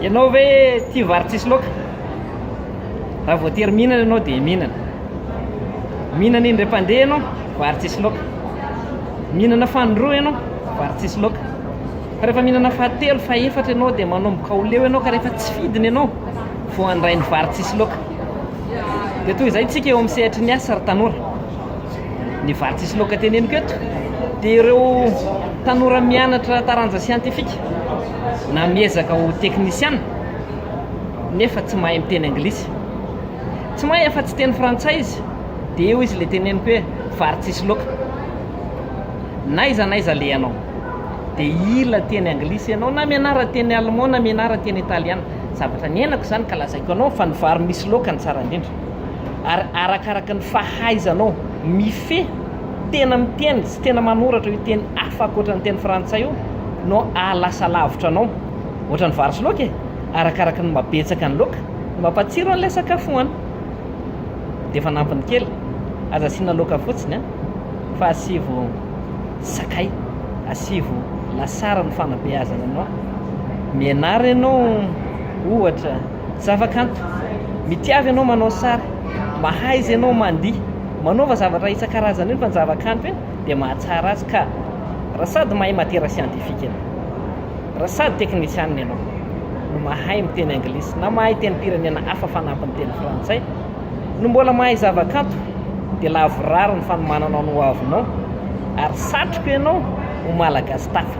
Ianao ve tia vary tsisy loaka? Raha voatery mihinana ianao dia mihinana. Mihinana indray mpandeha ianao, vary tsisy loaka. Mihinana fanindroa ianao, vary tsisy loaka. Fa rehefa mihinana fahatelo, fahefatra ianao dia manomboka ho leo ianao ka rehefa tsy fidiny ianao vao handray ny vary tsisy loaka. Dia toy izay isika eo amin'ny sehatry ny asa ry tanora. ny vary tsisy laoka teneniko eto dia ireo tanora mianatra taranja siantifika na miezaka ho teknisiana nefa tsy mahay miteny anglisy tsy mahay afa tsy teny frantsay izy dia eo izy le teneniko hoe vary tsisy laoka naiza naiza le ianao dia ila teny anglisy ianao na mianara teny allemand na mianara teny italiana zavatra niainako izany ka lazaiko anao fa ny vary misy laoka ny tsara indrindra ary arakaraka ny fahaizanao mifehy tena miteny sy tena manoratra io teny hafa ankoatra ny teny frantsay io no ahalasa lavitra anao ohatran'ny vary sy laoka e arakaraka ny mabetsaka ny laoka ny mampatsiro an'ilay sakafo hohanina dia efa nampiny kely aza asiana laoka fotsiny a fa asivo sakay asivo lasary ny fanabeazana anao mianara ianao ohatra Zavakanto, mitiava ianao manao sary, mahaiza ianao mandihy, manaova zavatra isan-karazany eny fa ny zavakanto eny dia mahatsara azy ka raha sady mahay matiera siantifika ianao, raha sady teknisianina ianao no mahay miteny anglisy na mahay tenim-pirenena hafa fanampin'ny teny frantsay no mbola mahay zavakanto dia lavorary ny fanomananao ny hoavinao ary satriko ianao ho malagasy tafa.